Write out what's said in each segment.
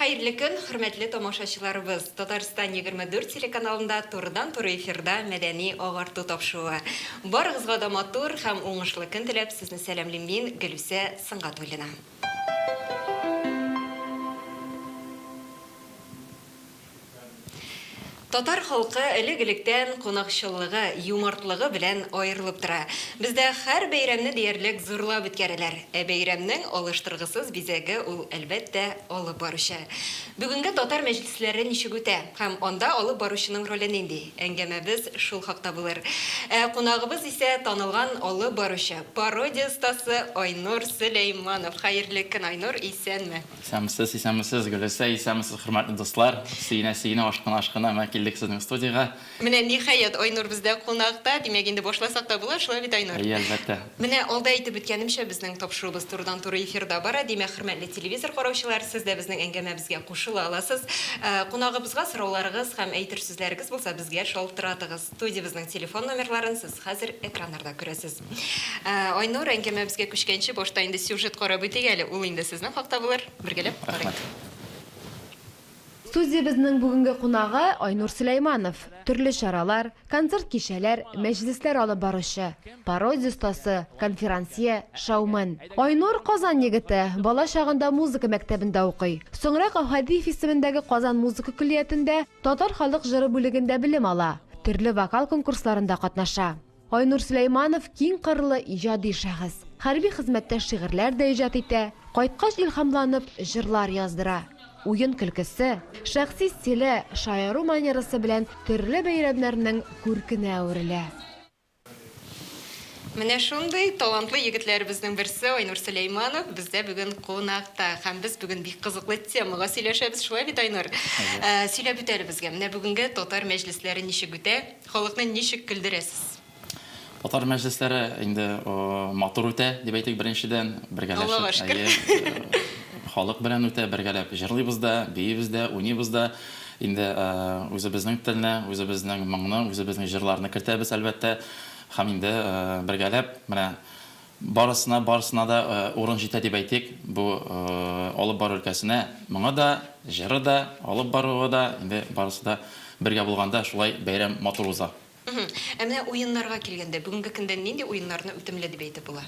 Хәерле көн, хөрмәтле тамашачыларыбыз! Татарстан 24 телеканалында турыдан-туры эфирда мәдәни агарту тапшыруы. Барыгызга да матур һәм уңышлы көн теләп, сезне сәламлим мин, Гөлүсә Сөнгатуллина. Татар халкы элек-электән кунакчыллыгы, юмартлыгы белән аерылып тора. Бездә һәр бәйрәмне диярлек зурлап үткәрәләр. Ә бәйрәмнең алыштыргысыз бизәге ул, әлбәттә, алып баручы. Бүгенге татар мәҗлесләре ничек үтә һәм анда алып баручының роле нинди? Әңгәмәбез шул хакта булыр. Ә кунагыбыз исә танылган алып баручы, пародия остасы Айнур Сөләйманов. Хәерле көн, Айнур, исәнме? Исәнмесез, исәнмесез, Гөләсә, исәнмесез, хөрмәтле дуслар! Сөенә-сөенә, ашкына-ашкына менә килдек сезнең студиягә. Менә, ниһаять, Айнур бездә кунакта. Димәк, инде башласак та була, шулай бит, Айнур? Әйе, әлбәттә. Менә алда әйтеп үткәнемчә, безнең тапшыруыбыз турыдан-туры эфирда бара. Димәк, хөрмәтле телевизор караучылар, сез дә безнең әңгәмәбезгә кушыла аласыз. Кунагыбызга сорауларыгыз һәм әйтер сүзләрегез булса, безгә шалтыратыгыз. Студиябезнең телефон номерларын сез хәзер экраннарда күрәсез. Айнур, әңгәмәбезгә күчкәнче, башта инде сюжет карап үтик әле. Ул инде сезнең хакта булыр. Бергәләп карыйк. Рәхмәт. Студиябезнең бүгенге кунагы, Айнур Сөләйманов, төрле чаралар, концерт кичәләр, мәҗлесләр алып баручы, пародия остасы, конферансье, шоумен. Айнур, Казан егете, бала чагында музыка мәктәбендә укый. Соңрак Әүхәдиев исемендәге Казан музыка көллиятендә татар халык җыры бүлегендә белем ала, төрле вокал конкурсларында катнаша. Айнур Сөләйманов, киң кырлы иҗади шәхес. Хәрби хезмәттә шигырьләр дә иҗат итә, кайткач илһамланып, җырлар яздыра. Уен-көлкесе, шәхси стиле, шаяру манерасы белән төрле бәйрәмнәрнең күркенә әверелә. Менә шундый талантлы егетләребезнең берсе Айнур Сөләйманов бездә бүген кунакта. Һәм без бүген бик кызыклы темага сөйләшәбез, шулай бит, Айнур? Әйе. Сөйләп үт әле безгә, менә бүгенге татар мәҗлесләре ничек үтә? Халыкны ничек көлдерәсез? Татар мәҗлесләре инде матур үтә, дип әйтик, беренчедән. Бергәләшеп. Аллага шөкер. Әйе. Халык белән үтә, бергәләп җырлыйбыз да, биибез дә, уйныйбыз да. Инде үзебезнең телне, үзебезнең моңны, үзебезнең җырларны кертәбез, әлбәттә. Һәм инде бергәләп менә Барысына, барысына да урын җитә дип әйтик, бу алып бару өлкәсенә. Моңы да, җыры да, алып баруы да, инде барысы да бергә булганда шулай бәйрәм матур уза. Ә менә уеннарга килгәндә, бүгенге көндә нинди уеннарны үтемле дип әйтеп була?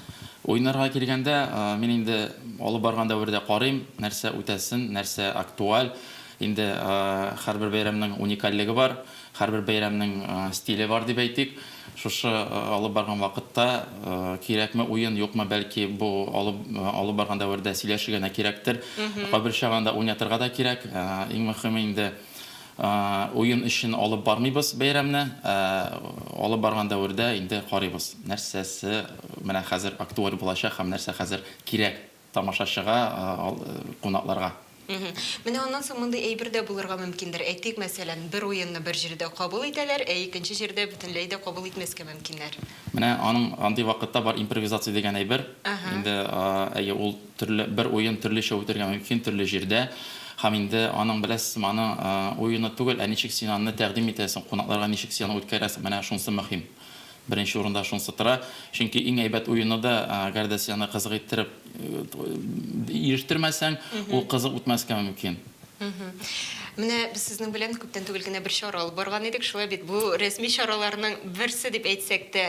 Уеннарга килгәндә, мин инде алып барган дәвердә карыйм, нәрсә үтәсен, нәрсә актуаль. Инде һәрбер бәйрәмнең уникальлеге бар, һәрбер бәйрәмнең стиле бар дип әйтик. Шушы алып барган вакытта кирәкме уен, юкмы, бәлки бу алып барган дәвердә сөйләшергә генә кирәктер. Кайбер чагында уйнатырга да кирәк. Иң мөхиме инде уен өчен алып бармыйбыз бәйрәмне, ә алып барган дәвердә инде карыйбыз, нәрсәсе менә хәзер актуаль булачак һәм нәрсә хәзер кирәк Тамашачыга, кунакларга. Менә аннан соң мондый әйбер дә булырга мөмкиндер, әйтик, мәсәлән, бер уенны бер җирдә кабул итәләр, ә икенче җирдә бөтенләй дә кабул итмәскә мөмкиннәр. Менә аның андый вакытта бар импровизация дигән әйбер. Инде, әйе, ул төрле, бер уен төрлечә үтәргә мөмкин, төрле җирдә. Һәм инде аның, беләсезме, аның уены түгел, ә ничек син аны тәкъдим итәсең, кунакларга ничек син аны үткәрәсең, менә шунысы мөһим. Беренче урында шунсы тора, чөнки иң әйбәт уены да, әгәр дә сине кызык иттереп ирештермәсәң, ул кызык үтмәскә мөмкин. Менә без сезнең белән күптән түгел генә бер чара алып барган идек, шулай бит? Бу рәсми чараларның берсе дип әйтсәк тә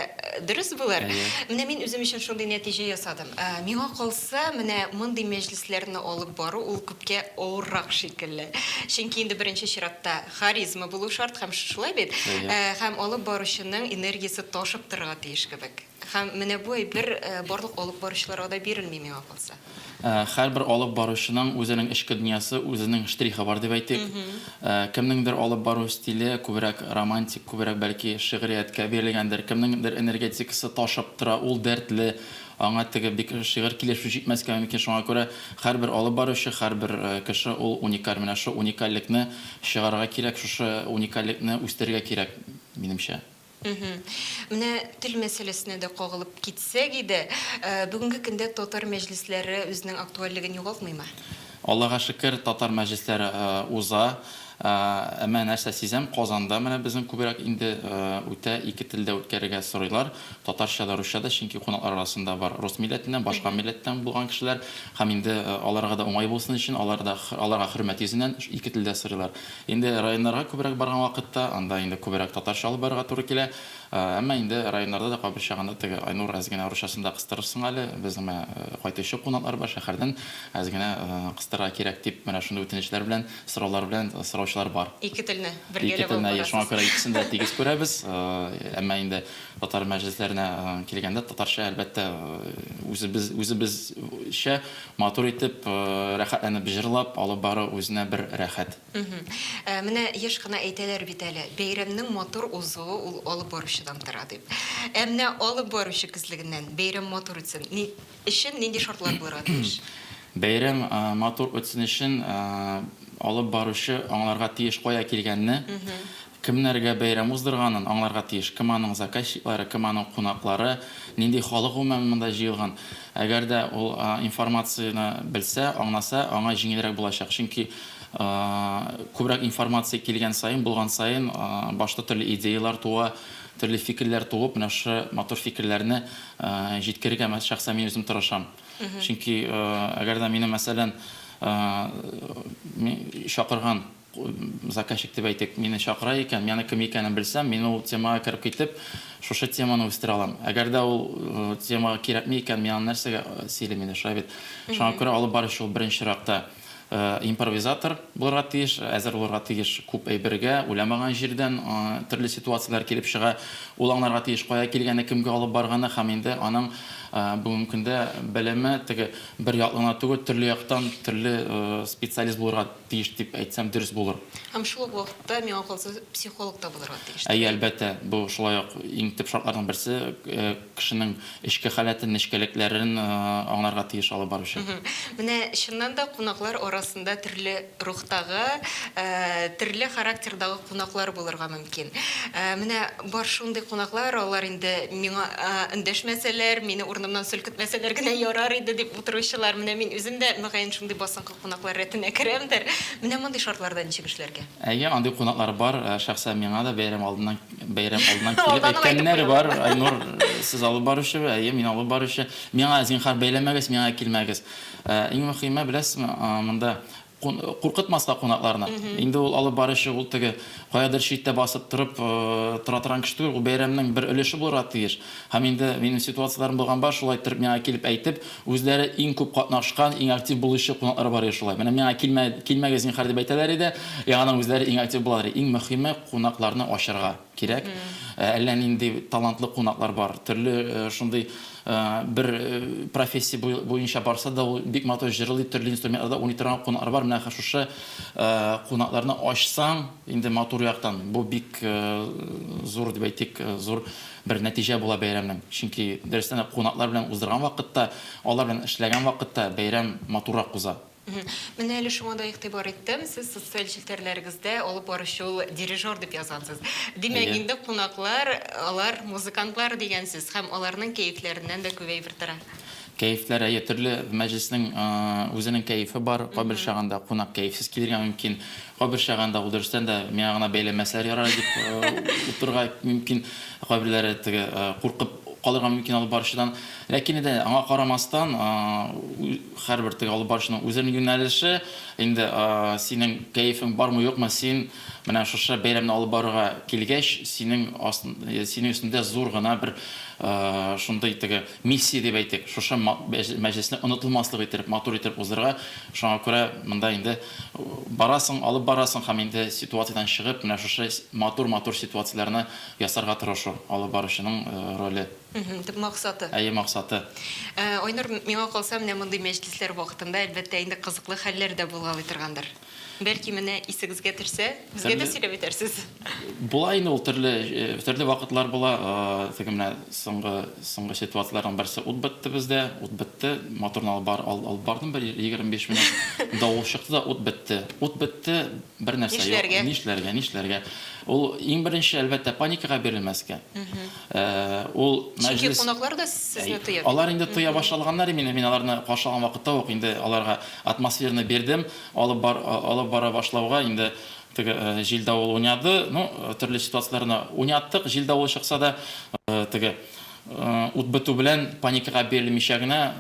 дөрес булыр. Менә мин үзем өчен шундый нәтиҗә ясадым. Миңа калса, менә мондый мәҗлесләрне алып бару ул күпкә авыррак шикелле. Чөнки инде беренче чиратта, Харизма булу шарт һәм шулай бит? Һәм алып баручының энергиясе ташып торырга тиеш кебек. Һәм менә бу әйбер барлык алып баручыларга да бирелми миңа калса. Һәрбер алып баручының үзенең эчке дөньясы, үзенең штрихы бар дип әйтик. Кемнеңдер алып бару стиле күбрәк романтик, күбрәк бәлки шигърияткә бирелгәндер, кемнеңдер энергетикасы ташып тора, ул дәртле, Аңа теге бик шигырь килешү җитмәскә мөмкин, шуңа күрә һәрбер алып баручы, һәрбер кеше ул уникаль. Менә шушы уникальлекне чыгарырга кирәк, шушы уникальлекне үстерергә кирәк, минемчә. Мхм. Менә тел мәсьәләсенә дә кагылып китсәк иде, бүгенге көндә татар мәҗлесләре үзенең актуальлеген югалтмыймы? Аллага шөкер, татар мәҗлесләре уза. Ә менә нәрсә сизәм, Казанда менә безнең күбрәк инде үтә, ике телдә үткәрергә сорыйлар, татарча да, русча да, чөнки кунаклар арасында бар рус милләтеннән, башка милләттән булган кешеләр һәм инде аларга да уңай булсын өчен, алар да, аларга хөрмәт йөзеннән, ике телдә сорыйлар. Инде районнарга күбрәк барган вакытта, анда инде күбрәк татарча алып барырга туры килә. Әмма инде районнарда да кабер чагында теге Айнур әз генә русчасын да кыстырырсың әле, безнең менә кайтучы кунаклар бар, шәһәрдән әз генә кыстырырга кирәк дип менә шундый үтенечләр белән, сораулар белән сораучылар бар. Ике телне бергәләп алып барасыз. Ике телне, шуңа күрә икесен дә тигез күрәбез. Әмма инде татар мәҗлесләренә килгәндә татарча, әлбәттә, үзебез, үзебезчә матур итеп, рәхәтләнеп җырлап алып бару үзенә бер рәхәт. Менә еш кына әйтәләр бит әле, бәйрәмнең матур узуы ул алып баручыдан тора дип. Ә менә алып баручы күзлегеннән бәйрәм матур үтсен өчен нинди шартлар булырга тиеш? Бәйрәм матур үтсен өчен алып баручы аңларга тиеш кая килгәнне. Кемнәргә бәйрәм уздырганын аңларга тиеш, кем аның заказчиклары, кем аның кунаклары, нинди халык гомумән монда җыелган. Әгәр дә ул информацияне белсә, аңласа, аңа җиңелрәк булачак. Чөнки күбрәк информация килгән саен, булган саен башта төрле идеяләр туа, төрле фикерләр туып, менә шушы матур фикерләрне җиткерергә шәхсән мин үзем тырышам. Чөнки әгәр дә мине мәсәлән чакырган, Заказчик дип әйтик, мине чакыра икән, мианы кем икәнен белсәм, мин ул темага кереп китеп, шушы теманы үстерә алам. Әгәр дә ул тема кирәкми икән, мин аны нәрсәгә сөйлим инде, шулай бит? Шуңа күрә алып баручы ул беренче чиракта импровизатор булырга тиеш, әзер булырга тиеш күп әйбергә, уйламаган җирдән төрле ситуацияләр килеп чыга. Ул аңларга тиеш, кая килгәне, кемгә алып барганы һәм инде аның бүгенге көндә белеме теге бер яклы гына түгел, төрле яктан, төрле специалист булырга тиеш дип әйтсәм дөрес булыр. Һәм шул ук вакытта миңа калса психолог та булырга тиеш. Әйе, әлбәттә, бу шулай ук иң төп шартларның берсе, кешенең эчке халәтен, нечкәлекләрен аңларга тиеш алып баручы. Менә чыннан да кунаклар арасында төрле рухтагы, төрле характердагы кунаклар булырга мөмкин. Менә бар шундый кунаклар, алар инде миңа эндәшмәсәләр, мине урынымнан селкетмәсәләр генә ярар иде дип утыручылар. Менә мин үзем дә мөгаен шундый басынкы. Кунаклар рәтенә керәмдер. Менә мондый шартларда ничек эшләргә? Әйе, андый кунаклар бар. Шәхсән миңа да бәйрәм алдыннан бәйрәм алдыннан килеп әйткәннәр бар. Айнур, сез алып баручы, әйе, мин алып баручы. Миңа, зинһар, бәйләмәгез, миңа килмәгез. Иң мөхиме, беләсезме, монда куркытмаска кунакларны. Инде ул алып баручы, ул теге каядыр читтә басып торып тора торган кеше түгел, ул бәйрәмнең бер өлеше булырга тиеш. Һәм инде минем ситуацияләрем булганба, шулай иттереп миңа килеп әйтеп, үзләре иң күп катнашкан, иң актив булучы кунаклары бар иде шулай. Менә миңа килмә, килмәгез зинһар дип әйтәләр иде, яңадан үзләре иң актив булалар иде. Иң мөхиме, кунакларны ачарга кирәк. Әллә нинди талантлы кунаклар бар. Төрле шундый бер профессия буенча барса да, ул бик матур җырлый, төрле инструментларда уйный торган кунаклар бар. Менә шушы кунакларны ачсаң, инде матур яктан, бу бик зур дип әйтик, зур Бер нәтиҗә була бәйрәмнең, чөнки дөрестән дә кунаклар белән уздырган вакытта, алар белән эшләгән вакытта бәйрәм матуррак уза. Менә әле шуңа да игътибар иттем, сез социаль челтәрләрегездә алып баручы ул дирижер дип язгансыз. Димәк, инде кунаклар, алар музыкантлар дигән сүз һәм аларның кәефләреннән дә күп әйбер тора. Кәефләр, әйе, төрле мәҗлеснең үзенең кәефе бар, кайбер чагында кунак кәефсез килергә мөмкин. Кайбер чагында ул дөрестән дә миңа гына бәйләмәсәләр ярар дип утырырга мөмкин, ә кайберләре теге куркып калырга мөмкин алып баручыдан. Ләкин инде аңа карамастан, һәрбер теге алып баручының үзенең юнәлеше, инде синең кәефең бармы-юкмы, син менә шушы бәйрәмне алып барырга килгәч, синең астын, синең өстендә зур гына бер шундый теге, Миссия дип әйтик, шушы мәҗлесне онытылмаслык иттереп, матур иттереп уздырырга. Шуңа күрә монда инде барасың, алып барасың һәм инде ситуациядән чыгып, менә шушы матур-матур ситуацияләрне ясарга тырышу, алып баручының роле. Төп максаты. Әйе, максаты. Айнур, миңа калса, менә мондый мәҗлесләр вакытында, әлбәттә, инде кызыклы хәлләр дә булгалый торгандыр? Бәлки менә исегезгә төшсә, безгә дә сөйләп үтәрсез. Була инде ул төрле, төрле вакытлар була. Теге менә соңгы, соңгы ситуацияләрнең берсе ут бетте бездә, ут бетте. Моторны алып бар, алып бардым бер 25 минут. Давыл чыкты да ут бетте. Ут бетте, бернәрсә юк. Нишләргә? Нишләргә, нишләргә? Ул иң беренче, әлбәттә, паникага бирелмәскә. Ул мәҗлес Чөнки кунаклар да сезне тоя бит. Алар инде тоя башлаганнар имени, мин аларны каршы алган вакытта ук инде аларга атмосфераны бирдем. Алып алып бара башлауга инде теге җил-давыл уйнады. Ну, төрле ситуацияләрне уйнаттык. Җил-давыл чыкса да, теге ут бетү белән паникага бирелмичә генә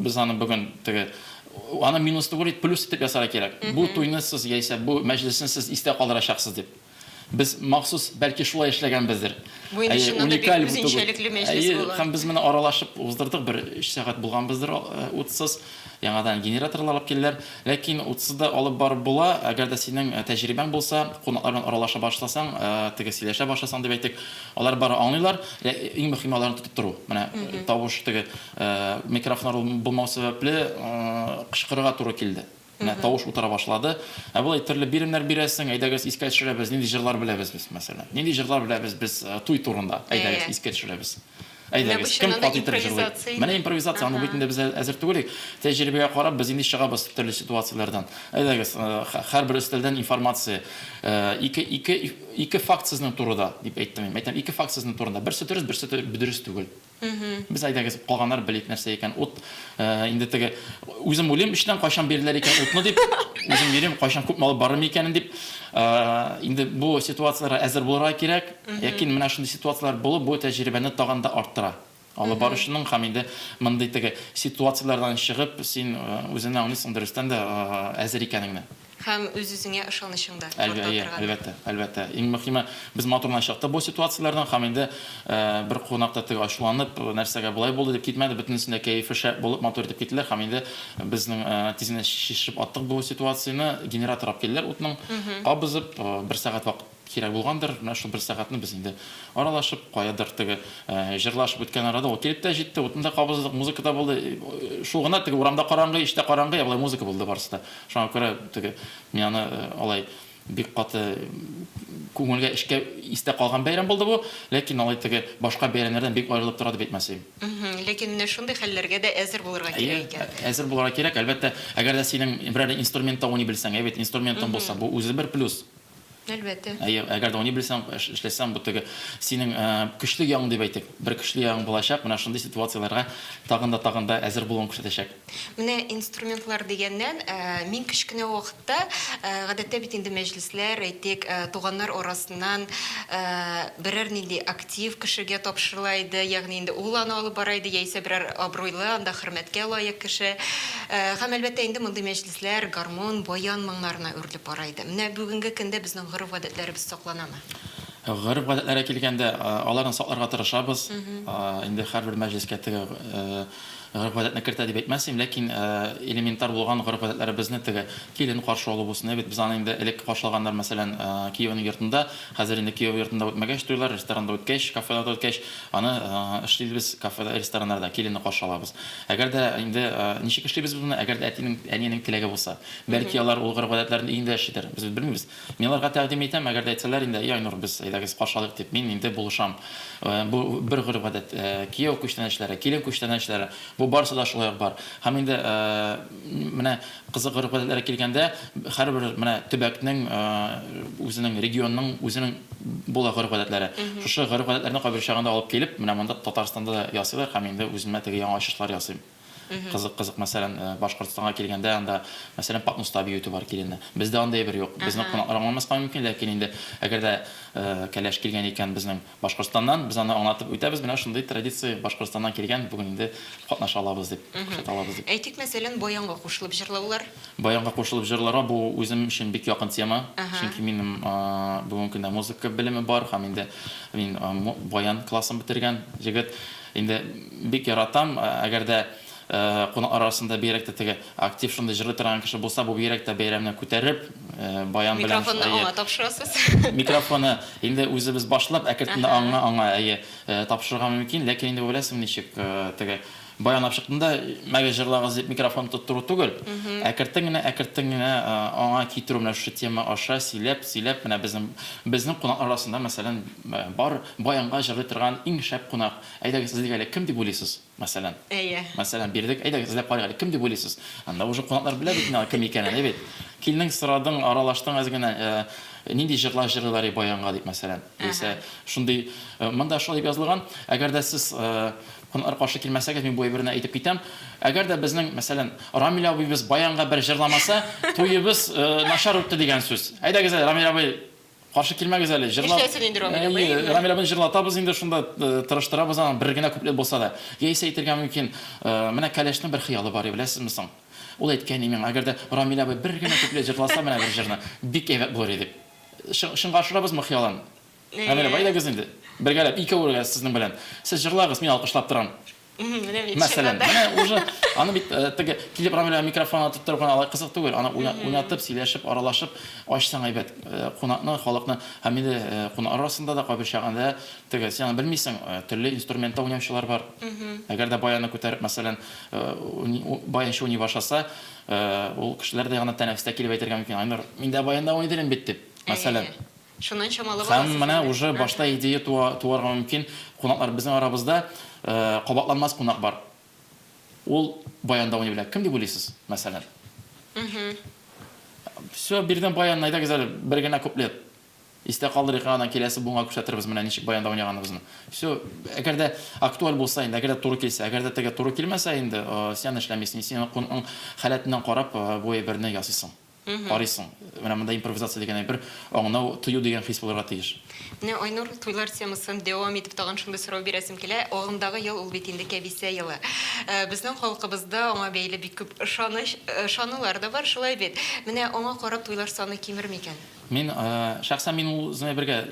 без аны бүген теге аны минус түгел, плюс итеп ясарга кирәк. Бу туйны сез яисә бу мәҗлесне сез истә калдырачаксыз дип. Без махсус, бәлки, шулай эшләгәнбездер. Бу инде чыннан да бик үзенчәлекле мәҗлес булыр. Әйе, һәм без моны аралашып уздырдык, бер өч сәгать булганбыздыр утсыз. Яңадан генераторлар алып килделәр. Ләкин утсыз да алып барып була, әгәр дә синең тәҗрибәң булса, кунаклар белән аралаша башласаң, теге сөйләшә башласаң дип әйтик, алар бары аңлыйлар, иң мөһиме аларны тотып тору. Менә тавыш теге микрофоннар булмау сәбәпле кычкырырга туры килде. Менә тавыш утыра башлады. Ә болай төрле биремнәр бирәсең, әйдәгез искә төшерәбез, нинди җырлар беләбез без, мәсәлән. Нинди җырлар беләбез без э, туй турында, әйдәгез искә төшерәбез. Әйдәгез, кем кат итеп җырлый? Менә импровизация, аны бит инде без әзер түгел. Тәҗрибәгә карап, без инде чыгабыз төрле ситуацияләрдән. Әйдәгез, э, һәрбер өстәлдән информация. Э, ике, ике, ике факт сезнең турыда, дип әйттем. Әйтәм, ике факт сезнең турында. Берсе дөрес, берсе дөрес түгел. Без әйдәгез, калганнар белик нәрсә икән ут. Инде теге үзем уйлыйм, эчтән кайчан бирделәр икән утны дип, үзем йөрим, кайчан күп малы барым икәнен дип. Инде бу ситуацияләргә әзер булырга кирәк. Ләкин менә шундый ситуацияләр булып, бу тәҗрибәне тагын да арттыра. Алып баручының һәм инде мондый теге ситуацияләрдән чыгып, син үзеңне аңлыйсың дөрестән дә әзер икәнеңне. Һәм үз-үзеңә ышанычың да арта торган. Әйе, әлбәттә, әлбәттә. Иң мөхиме, без матурына чыкты бу ситуацияләрдән һәм инде бер кунак та теге ачуланып, нәрсәгә болай булды дип китмәде, бөтенесен дә кәефе шәп булып, матур итеп киттеләр һәм инде без тиз генә чишеп аттык бу ситуацияне, генератор алып килделәр утның, кабызып, бер сәгать вакыт. Кирәк булгандыр, менә шул бер сәгатьне без инде аралашып, каядыр теге җырлашып үткән арада ул килеп тә җитте, утны да кабыздык, музыка да булды. Шул гына, теге урамда караңгы, эчтә караңгы, ә болай музыка булды барысы да. Шуңа күрә теге мин аны алай бик каты күңелгә, эчкә истә калган бәйрәм булды бу. Ләкин алай теге башка бәйрәмнәрдән бик аерылып тора дип әйтмәсем. Ләкин менә шундый хәлләргә дә әзер булырга кирәк икән. Әйе, әзер булырга кирәк. Әлбәттә, әгәр дә синең берәр инструментта уйный белсәң, әйбәт инструментың булса, бу үзе бер плюс. Әлбәттә. Әйе, әгәр дә уйный белсәң, эшләсәң, бу теге синең көчле ягың дип әйтик. Бер көчле ягың булачак, менә шундый ситуацияләргә тагын да тагын да әзер булуың күрсәтәчәк. Менә инструментлар дигәннән, мин кечкенә вакытта, гадәттә бит инде мәҗлесләр, әйтик, туганнар арасыннан берәр нинди актив кешегә тапшырыла иде, ягъни инде ул аны алып бара иде, яисә берәр абруйлы, анда хөрмәткә лаек кеше. Һәм, әлбәттә, инде мондый мәҗлес. Үзләр гармун, баян моңнарына үрелеп бара иде. Менә бүгенге көндә безнең гореф-гадәтләребез сакланамы? Гореф-гадәтләргә килгәндә, аларны сакларга тырышабыз. Инде һәрбер мәҗлескә теге гореф-гадәтне кертә дип әйтмәсем, ләкин элементар булган гореф-гадәтләребезне, теге килен каршы алу булсын, әйбәт, без аны инде элек каршылаганнар, мәсәлән, кияүнең йортында, хәзер инде кияү йортында үтмәгәч туйлар, ресторанда үткәч, кафеларда үткәч, аны эшлибез, кафеда, рестораннарда киленне каршы алабыз. Әгәр дә инде ничек эшлибез без моны, әгәр дә әтинең, әниенең теләге булса? Бәлки, алар ул гореф-гадәтләрен өендә эшлидер, без бит белмибез. Мин аларга тәкъдим итәм, әгәр дә әйтсәләр инде, и Айнур, без, әйдәгез, каршы алыйк дип, мин инде булышам. Бу, бер гореф-гадәт. Кияү күчтәнәчләре, килен күчтәнәчләре, бу барысы да шулай ук бар. Һәм инде менә Кызыгырып белән әле килгәндә, һәрбер менә төбәкнең, үзенең регионның, үзенең була гореф-гадәтләре. Шушы гореф-гадәтләрне кайбер чагында алып килеп, менә монда Татарстанда да ясыйлар һәм инде үземә теге яңа ачышлар ясыйм. Кызык, кызык, мәсәлән, Башкортстанга килгәндә, анда, мәсәлән, патноста бию итү бар киленне. Бездә андый әйбер юк. Безнең кунаклар аңламаска мөмкин, ләкин инде әгәр дә кәләш килгән икән, безнең. Башкортстаннан, без аны аңлатып үтәбез, менә шундый традиция Башкортстаннан килгән, бүген инде катнаша алабыз дип, күрсәтә алабыз дип. Әйтик, мәсәлән, баянга кушылып җырлаулар? Баянга кушылып җырларга бу үзем өчен бик якын тема. Чөнки минем бүгенге көндә музыка белеме бар һәм инде мин баян классын бетергән егет. Инде бик яратам, әгәр дә Кунаклар арасында бигрәк тә теге актив шундый җырлый торган кеше булса, бу бигрәк тә бәйрәмне күтәреп, баян белән. Микрофонны аңа тапшырасыз. Микрофоны инде үзебез башлап, әкертенда аңа, аңа, әйе, тапшырырга мөмкин. Ләкин инде беләсең ничек, теге баян алып чыктыңда, мәгез җырлагыз дип микрофон тоттыру түгел. Әкертен генә, әкертен генә аңа китерү менә шушы тема аша сөйләп, сөйләп, менә безнең, безнең кунаклар арасында мәсәлән бар баянга җырлый торган иң шәп кунак. Әйдәгез, сез дигәле, кем дип уйлыйсыз? Мәсәлән. Әйе. Мәсәлән, бирдек. Әйдәгез, эзләп карыйк әле, кем дип уйлыйсыз? Анда уже кунаклар белә бит инде аның кем икәнен, әйе бит? Килдең, сорадың, аралаштың әз генә, ә, нинди җырлар җырлыйлар и баянга дип, мәсәлән, яисә Әһә. шундый, ә, монда шулай дип язылган, әгәр дә сез, ә, кунаклар каршы килмәсәгез, мин бу әйберне әйтеп китәм, әгәр дә безнең, мәсәлән, Рамил абыебыз баянга бер җырламаса, туебыз, ә, начар үтте дигән сүз. Әйдәгез әле, Рамил абый! Каршы килмәгез әле, җырлап... Нишләсен инде Рамил абый, Әйе, әйе. Рамил абыйны җырлатабыз инде шунда, э, тырыштырабыз аны, бер генә куплет булса да. Яисә әйтергә мөмкин, э, менә Кәләшнең бер хыялы бар иде, беләсезме соң? Ул әйткән иде миңа, әгәр дә Рамил абый бер генә куплет җырласа менә бер җырны, бик әйбәт булыр иде, дип. Чы, чынга ашырабызмы хыялын? Рамил абый, Әйе. әйдәгез инде, бергәләп, икәү ргә сезнең белән. Сез җырлагыз, мин алкышлап торам. Мәсәлән, менә уже аны бит э, теге телепрограмма белән микрофон атып торып кына алай кызык түгел. Аны уйнатып, сөйләшеп, аралашып ачсаң әйбәт. Э, кунакны, халыкны һәм инде э, кунак арасында да кайбер чагында теге син аны белмисең, төрле инструментта уйнаучылар бар. Әгәр дә баянны күтәреп, мәсәлән, баянчы уйный башласа, ул кешеләр дә ягына тәнәфестә килеп әйтергә мөмкин. Айнур, мин дә баянда уйный бит дип. Мәсәлән. Шуннан чамалы Һәм баласы менә җиңде. уже башта идея туа, туарга мөмкин, кунаклар, безнең арабызда кабатланмас кунак бар, ул Баян Дауни белә. Кем дип уйлыйсыз, мәсәлән? Все, биредән Баян, әйдәгез әле, бер генә куплет истә калдырыйк, аннан киләсе буынга күрсәтербез менә ничек Баян Дауни яганыбызны. Все, әгәр дә актуаль булса инде, әгәр дә туры килсә, әгәр дә теге туры килмәсә инде, син аны эшләмисең, син кунакның халәтеннән карап бу әйберне ясыйсың. карыйсың. Менә монда импровизация дигән әйбер, аңнау, тою дигән хис булырга тиеш. Менә Айнур, туйлар темасын дәвам итеп тагын шундый сорау бирәсем килә. Агымдагы ел ул бит инде Кәбисә елы. Безнең халкыбызда аңа бәйле бик күп ышаныч, ышанулар да бар, шулай бит? Менә аңа карап туйлар саны кимер микән? Мин, шәхсән мин ул үземә бергә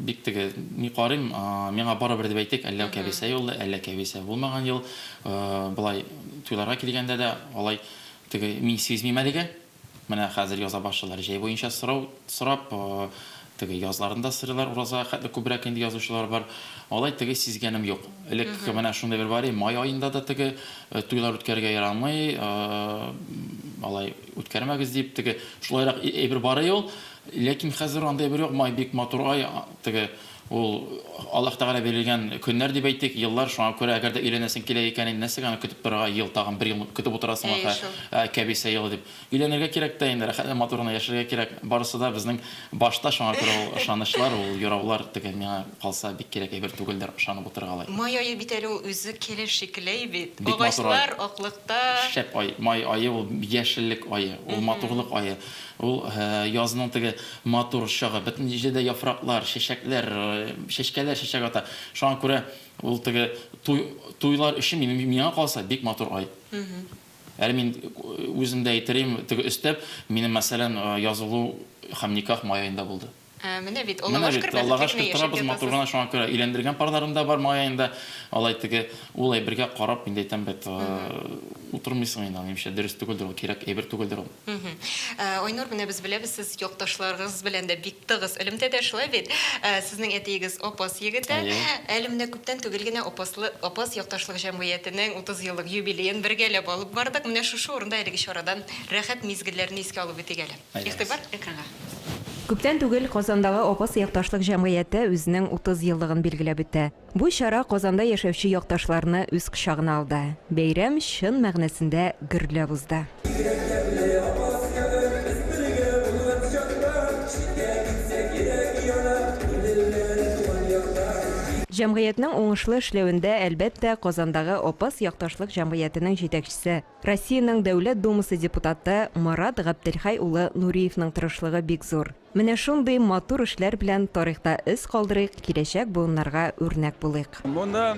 бик теге ни карыйм, миңа барыбер дип әйтик, әллә Кәбисә юлы, әллә Кәбисә булмаган ел. Болай туйларга килгәндә дә алай Теге, мин сизмим әлегә. Менә хәзер яза башлыйлар. Җәй буенча сорау сорап, теге, язларын да сорыйлар, уразага хәтле күбрәк инде язучылар бар. Алай теге сизгәнем юк. Элек менә шундый бер бар иде, май аенда да теге, туйлар үткәрергә ярамый, алай үткәрмәгез дип, теге, шулайрак әйбер бар иде ул. Ләкин хәзер андый әйбер юк, май бик матур ай, теге, Ул, Аллаһ Тәгалә бирелгән көннәр дип әйтик, еллар, шуңа күрә, әгәр дә өйләнәсең килә икән, инде нәрсәгә аны көтеп торырга, ел, тагын бер ел көтеп утырасың, Әйе ахры, шул. ә, кәбисә елы дип. Өйләнергә кирәк тә инде, рәхәт, матур гына яшәргә кирәк. Барысы да безнең башта, шуңа күрә ул ышанычлар, ул юраулар теге миңа калса бик кирәк әйбер түгелдер, ышанып утырырга алай. Май ае бит әле ул үзе келе шикелләй бит. Бик матур ай. Агачлар аклыкта. Шәп ай. Май ае ул яшеллек ае, ул матурлык ае. Ул, язның теге матур чагы, бөтен җирдә яфраклар, чәчәкләр, чәчкәләр чәчәк ата. Шуңа күрә ул теге туй, туйлар өчен, миңа калса, бик матур ай. Әле мин үзем дә әйтерем, теге өстәп, минем, мәсәлән, язылу һәм никах май аенда булды. Ә, менә бит, Менә аллага бит, шөкер, Аллага бәхетле генә шөкер, яшәп торабыз, матур гына, ятасыз. шуңа күрә өйләндергән парларым да бар, май аенда, алай теге, ул әйбергә карап, мин дә әйтәм бит, э, утырмыйсың инде, аны нишләп, дөрес түгелдер ул, кирәк әйбер түгелдер ул. Мгм. Ә, Айнур, менә без беләбез, сез якташларыгыз белән дә бик тыгыз элемтәдә, шулай бит? Ә, сезнең әтиегез Апас егете. Әйе. Әле менә күптән түгел генә Апаслы, Апас якташлык җәмгыятенең 30 еллык юбилеен бергәләп алып бардык. Менә шушы урында әлеге чарадан рәхәт мизгелләрне искә алып үтик әле. Игътибар экранга. Күптән түгел Казандагы Апас якташлык җәмгыяте үзенең 30 еллыгын билгеләп үтә. Бу чара Казанда яшәүче якташларны үз кочагына алды. Бәйрәм чын мәгънәсендә гөрләп узды. Җәмгыятьнең уңышлы эшләвендә, әлбәттә, Казандагы Апас якташлык җәмгыятенең җитәкчесе, Россиянең Дәүләт Думасы депутаты Марат Габделхәй улы Нуриевның тырышлыгы бик зур. Менә шундый матур эшләр белән тарихта эз калдырыйк, киләчәк буыннарга үрнәк булыйк. Монда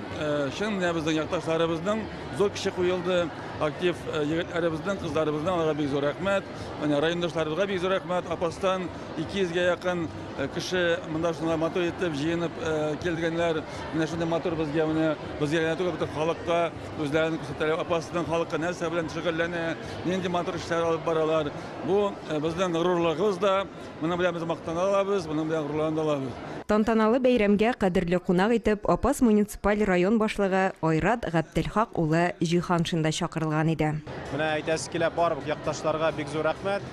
чын мәнебездән якташларыбызның зур көче куелды. Актив егетләребезнең, кызларыбызның аларга бик зур рәхмәт. Менә райондашларыбызга бик зур рәхмәт. Апастан 200 гә якын кеше монда шулай матур итеп җыенып килгәннәр. Менә шундый матур безгә менә безгә генә түгел, бөтен халыкка. Үзләрен күрсәтәләр, апасының халкы нәрсә белән шөгыльләнә, нинди матур эшләр алып баралар. Бу э, безнең горурлыгыбыз да, моның белән без мактана алабыз, моның белән горурлана алабыз. Тантаналы бәйрәмгә кадерле кунак итеп Апас муниципаль район башлыгы Айрат Габделхак улы Җиһаншин да чакырылган иде. Менә әйтәсе килә, бар якташларга бик зур рәхмәт.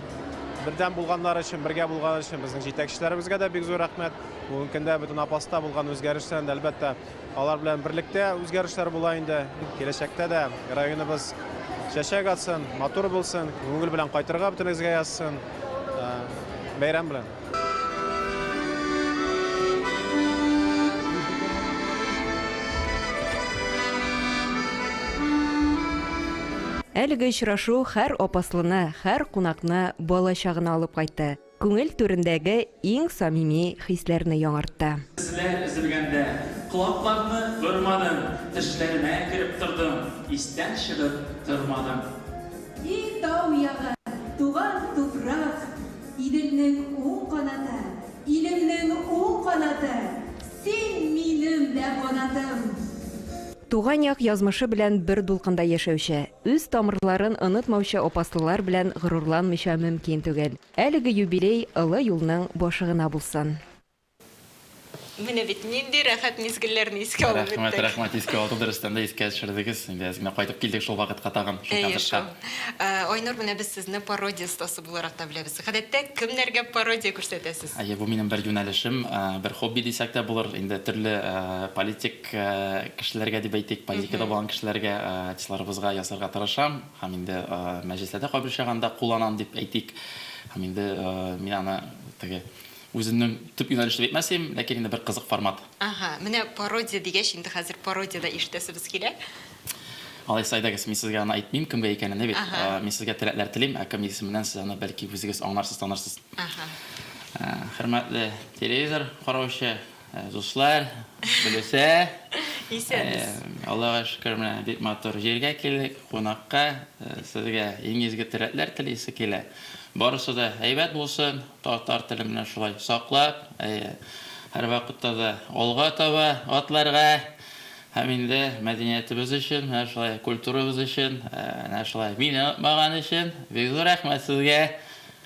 Бердәм булганнар өчен, бергә булган өчен безнең җитәкчеләребезгә дә бик зур рәхмәт. Бүгенге көндә бөтен Апаста булган үзгәрешләрне әлбәттә, Алар белән берлектә үзгәрешләр була инде. Киләчәктә дә районыбыз чәчәк атсын, матур булсын, күңел белән кайтырга бөтенегезгә язсын. Э, бәйрәм белән! Әлеге очрашу хәр апаслыны, хәр кунакны бала чагына алып кайтты. Күңел түрендәге иң самими хисләрне яңартты. Эзләр өзелгәндә, колакларны бормадым, Төшләремә кереп тордың, истән чыгып тормадың. И тау ягы, туган туфрак, Иделнең уң канаты, илемнең уң канаты, Син, минем дә канатым! Туган як язмышы белән бер дулкында яшәүче, Үз тамырларын онытмаучы опаслылар белән горурланмыйча мөмкин түгел. Әлеге юбилей олы юлның башы гына булсын! Менә бит, нинди рәхәт мизгелләрне искә алып үттек. Рәхмәт, рәхмәт, искә алу да рөстәм дә искә төшердегез. Инде әз генә кайтып килдек шул вакытка тагын, шул концертка. Әйе шул. Айнур, менә без сезне пародия остасы буларак та беләбез. Гадәттә кемнәргә пародия күрсәтәсез? Әйе, бу минем бер юнәлешем, бер хобби дисәк тә булыр. Инде төрле политик кешеләргә дип әйтик, позитикада булган кешеләргә, артистларыбызга ясарга тырышам һәм инде мәҗлесләрдә кайбер очраганда кулланам дип әйтик. Һәм инде мин аны теге үземнең төп юнәлеш дип әйтмәсем, ләкин инде бер кызык формат. Аһа, менә пародия дигәч, инде хәзер пародия дә ишетәсебез килә. Алайса, әйдәгез, мин сезгә аны әйтмим, кемгә икәненне бит. Мин сезгә теләкләр телим, ә кем исеменнән сез аны бәлки үзегез аңларсыз, танырсыз. Хөрмәтле телевизор караучы Дуслар, Гөлүсә. Исәнбез. Аллага шөкер, менә бик матур җиргә килдек, кунакка. Сезгә иң изге теләкләр телисе килә. Барысы да әйбәт булсын, татар телен менә шулай саклап, һәрвакытта да алга таба атларга һәм инде мәдәниятебез өчен, менә шулай культурабыз өчен, менә шулай мине онытмаган өчен бик зур рәхмәт сезгә!